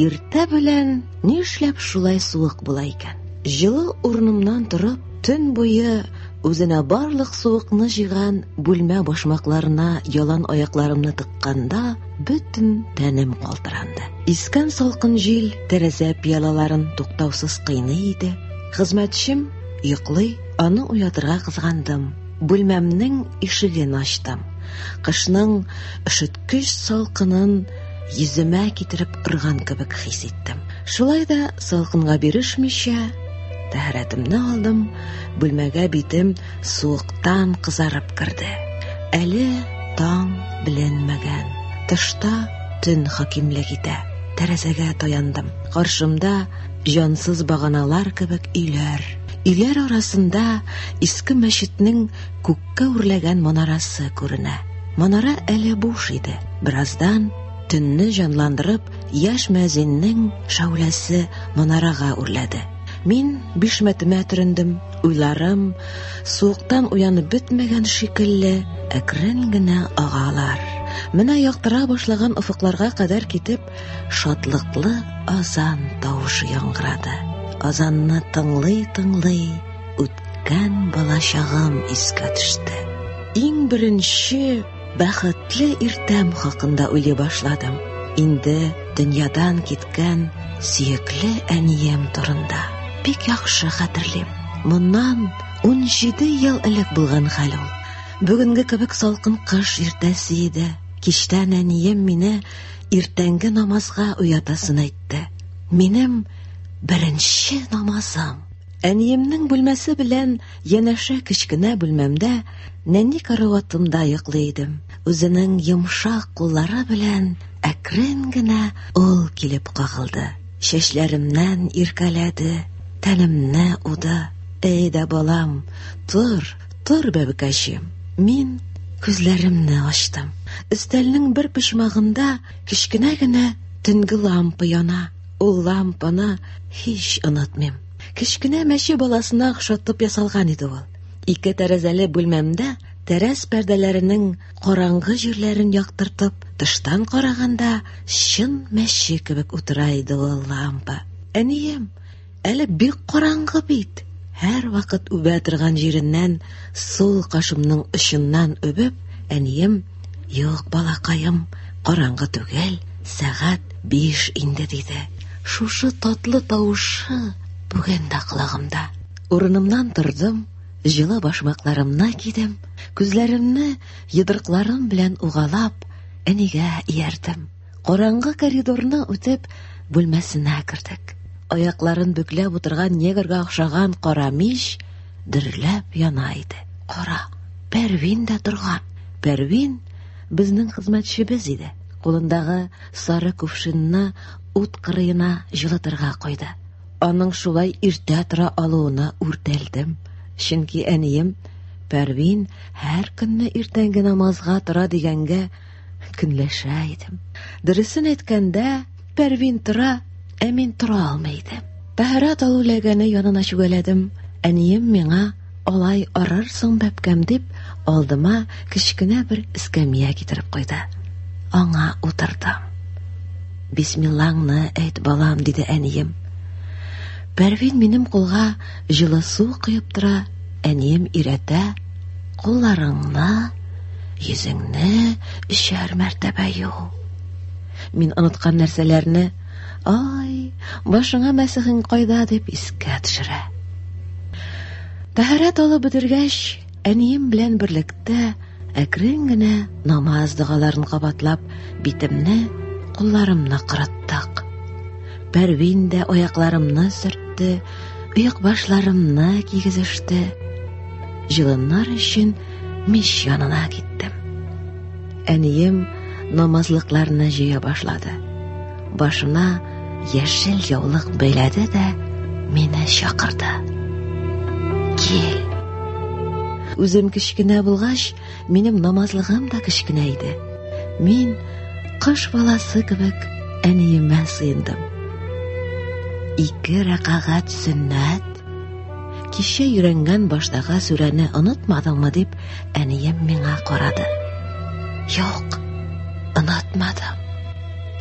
Иртә белән ни эшләп шулай суык була икән? Җылы урынымнан торып, төн буе үзенә барлык суыкны җыйган бүлмә башмакларына ялан аякларымны тыкканда, бөтен тәнем калтыранды. Искән салкын җил тәрәзә пиалаларын туктаусыз кыйный иде. Хезмәтчем йоклый, аны уятырга кызгандым. Бүлмәмнең ишеген ачтым. Кышның өшеткеч салкынын Йөземә китереп ырган кебек хис иттем. Шулай да салкынга бирешмичә, тәһарәтемне алдым, бүлмәгә битем суыктан кызарып керде. Әле таң беленмәгән. Тышта төн хакимлек итә. Тәрәзәгә таяндым. Каршымда җансыз баганалар кебек өйләр. Өйләр арасында иске мәчетнең күккә үрләгән манарасы күренә. Манара әле буш иде. Бераздан төнне җанландырып, яшь мәзиннең шауләсе манарага үрләде. Мин бишмәтемә төрендем. Уйларым суыктан уянып бетмәгән шикелле әкрен генә агалар. Менә яктыра башлаган офыкларга кадәр китеп, шатлыклы азан тавышы яңгырады. Азанны тыңлый-тыңлый Үткән балачагым искә төште. Иң беренче бәхетле иртәм хакында уйлый башладым. Инде дөньядан киткән сөекле әнием турында. Бик яхшы хәтерлим. Моннан 17 ел элек булган хәл ул. Бүгенге кебек салкын кыш иртәсе иде. Кичтән әнием мине иртәнге намазга уятасын әйтте. Минем беренче намазым. Әниемнең бүлмәсе белән янәшә кечкенә бүлмәмдә нәни караватымда йоклый идем. Үзенең йомшак куллары белән әкрен генә ул килеп кагылды. Чәчләремнән иркәләде, тәнемне уды. Әй дә балам, тор, тор, бәбекәчем. Мин күзләремне ачтым. Өстәлнең бер почмагында кечкенә генә төнге лампа яна. Ул лампаны һич онытмыйм. Кечкенә мәче баласына охшатып ясалган иде ул. Ике тәрәзәле бүлмәмдә тәрәз пәрдәләренең караңгы җирләрен яктыртып, тыштан караганда чын мәче кебек утыра иде ул лампа. Әнием, Әле бик караңгы бит. Һәр вакыт үбә торган җиреннән сул кашымның очыннан үбеп, әнием, "Юк, балакаем, караңгы түгел, сәгать 5 инде", диде. Шушы татлы тавышы бүген дә колагымда. Урынымнан тордым, җылы башмакларымны кидем, күзләремне йодрыкларым белән угалап, әнигә иярдем. Караңгы коридорны үтеп, бүлмәсенә кердек. Аякларын бөкләп утырган негрга охшаган кара мич дөрләп яна иде. Кара, Пәрвин дә торган. Пәрвин безнең хезмәтчебез иде. Кулындагы сары кувшинны ут кырыена җылытырга куйды. Аның шулай иртә тора алуына үртәлдем. Чөнки әнием Пәрвин һәр көнне иртәнге намазга тора дигәнгә Көнләшә идем. Дөресен әйткәндә, Пәрвин тора, ә мин тора алмый идем. Тәһарәт алу ләгәне янына чүгәләдем. Әнием миңа алай арырсың бәпкәм дип, алдыма кечкенә бер эскәмия китереп куйды. Аңа утырдым. Бисмиллаңны әйт, балам, диде әнием. Пәрвин минем кулга Җылы су коеп тора, әнием иретә, кулларыңны, йөзеңне өчәр мәртәбә ю. Мин оныткан нәрсәләрне, ай, башыңа мәсехең кайда дип искә төшерә. Тәһарәт алып бетергәч, Әнием белән берлектә әкрен генә намаз догаларын кабатлап, битемне, кулларымны кырыттык. Пәрвин дә аякларымны сөртте, оек башларымны кигезеште. Җылыннар өчен мич янына киттем. Әнием намазлыкларны җыя башлады. Башына яшел яулык бәйләде дә мине чакырды. Кил. Үзем кечкенә булгач, минем намазлыгым да кечкенә иде. Мин кыш баласы кебек әниемә сыендым. Ике рәкагать сөннәт. Кичә йөрәнгән баштагы сүрәне онытмадыңмы дип, Әнием миңа карады. Юк, онытмадым.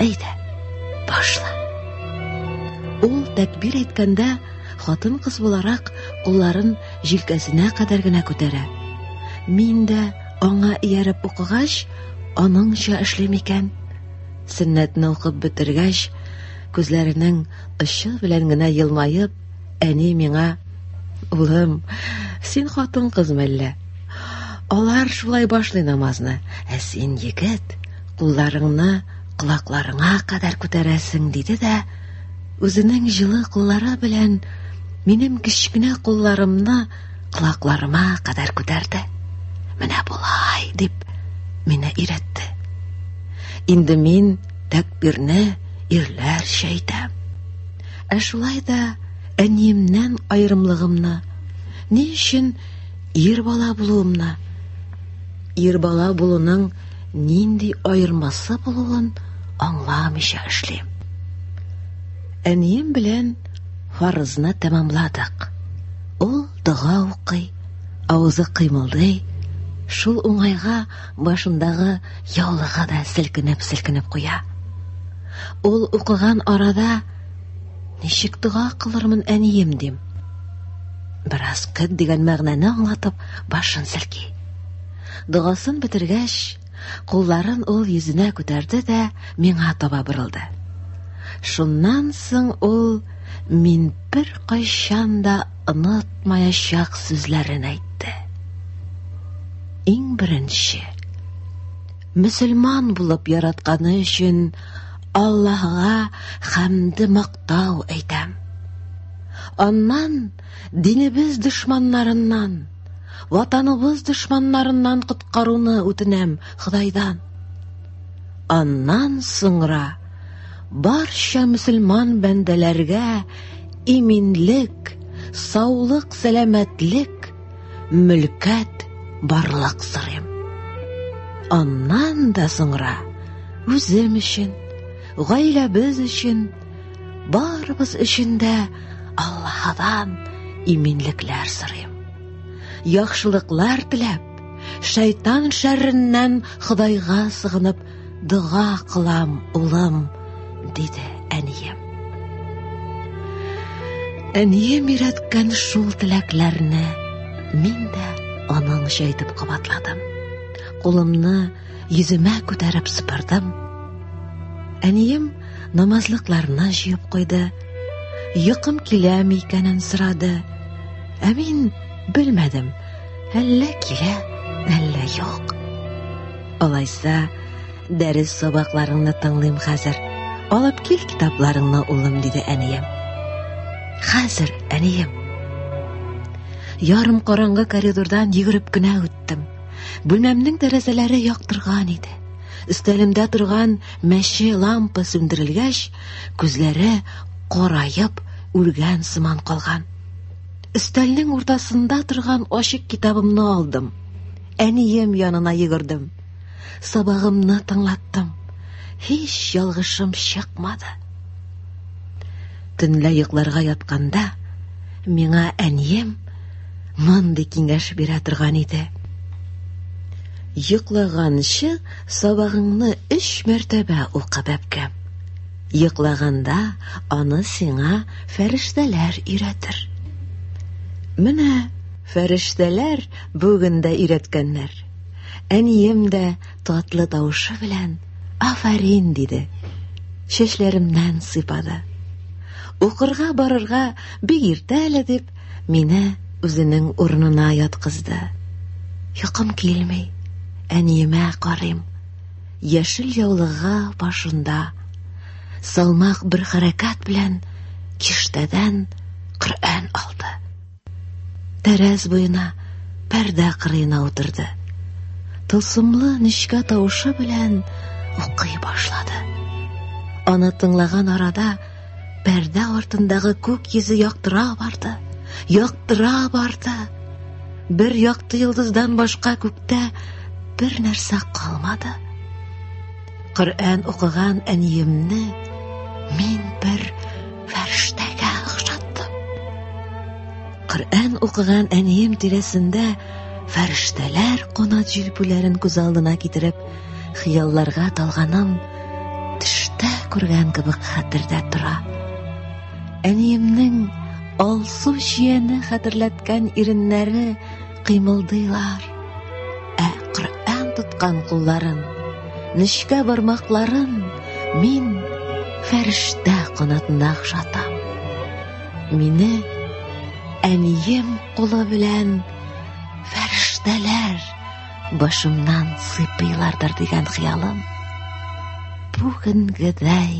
Әйдә, башла. Ул тәкбир әйткәндә, хатын кыз буларак кулларын җилкәсенә кадәр генә күтәрә. Мин дә аңа ияреп укыгач, аныңча эшлим икән. Сөннәтне укып бетергәч, күзләренең очы белән генә елмаеп, Әни миңа, улым, син хатын кыз мәллә? Алар шулай башлый намазны, ә син егет, кулларыңны колакларыңа кадәр күтәрәсең, диде дә, үзенең җылы куллары белән минем кечкенә кулларымны колакларыма кадәр күтәрде. Менә болай, дип, мине өйрәтте. Инде мин тәкбирне ирләрчә әйтәм. Ә шулай да әниемнән аерымлыгымны, ни өчен ир бала булуымны, ир бала булуның нинди аермасы булуын аңламыйча эшлим. Әнием белән фарызны тәмамладык. Ул дога укый, авызы кыймылдый, шул уңайга Башындагы яулыгы да селкенеп-селкенеп куя. Ул укыган арада ничек дога кылырмын әнием дим. Бераз кыт дигән мәгънәне аңлатып, башын селки. Догасын бетергәч, кулларын ул йөзенә күтәрде дә миңа таба борылды. Шуннан соң ул мин бер кайчан да онытмаячак сүзләрен әйтте. Иң беренче мөселман булып яратканы өчен Аллаһга хәмде мактау әйтәм. Аннан динебез дошманнарыннан, ватаныбыз дошманнарыннан коткаруны үтенәм Худайдан. Аннан соңра барча мөселман бәндәләргә иминлек, саулык, сәламәтлек, мөлкәт, барлык сорыйм. Аннан да соңра үзем өчен, гаиләбез өчен, барыбыз өчен дә Аллаһыдан иминлекләр сорыйм. Яхшылыклар теләп, шайтан шәрреннән Худайга сыгынып Дога кылам, улым, диде әнием. Әнием өйрәткән шул теләкләрне мин дә аның җәйтеп кабатладым. Кулымны йөземә күтәреп сыпырдым. Әнием намазлыкларны җыеп куйды. Йокым киләме икәнен сорады. Ә мин белмәдем. Әллә килә, әллә юк. Алайса, дәрес сабакларыңны тыңлыйм хәзер. Алып кил китапларыңны, улым, диде әнием. Хәзер, әнием. Ярым караңгы коридордан йөгереп кенә үттем. Бүлмәмнең тәрәзәләре яктырган иде. Өстәлемдә торган мәче лампа сүндерелгәч, күзләре караеп, үлгән сыман калган. Өстәлнең уртасында торган ачык китабымны алдым. Әнием янына йөгердем. Сабагымны тыңлаттым. Һич ялгышым чыкмады. Төнлә йокларга ятканда миңа әнием мондый киңәш бирә торган иде. Йоклаганчы сабагыңны өч мәртәбә укы бәбкәм. Йоклаганда аны сиңа фәрештәләр өйрәтер. Менә фәрештәләр Бүген дә өйрәткәннәр. Әнием дә татлы тавышы белән афәрин диде. Чәчләремнән сыйпады. Укырга барырга бик иртә әле дип, мине үзенең урынына яткызды. Йокым килми. Әниемә карыйм. Яшел яулыгы башында салмак бер хәрәкәт белән киштәдән Коръән алды. Тәрәз буена пәрдә кырыена утырды. Тылсымлы нечкә тавышы белән укый башлады. Аны тыңлаган арада пәрдә артындагы күк йөзе яктыра барды, яктыра барды. Бер якты йолдыздан башка күктә бер нәрсә калмады. Коръән укыган әниемне мин бер фәрештәгә охшаттым. Коръән укыган әнием тирәсендә фәрештәләр кунат җилпүләрен күз алдына китереп, хыялларга талганым төштә күргән кебек хәтердә тора. Әниемнең алсу чияне хәтерләткән иреннәре кыймылдыйлар. Ә Коръән тоткан кулларын, нечкә бармакларын мин фәрештә канатына охшатам. Мине әнием кулы белән фәрештәләр башымнан сыйпыйлардыр дигән хыялым бүгенгедәй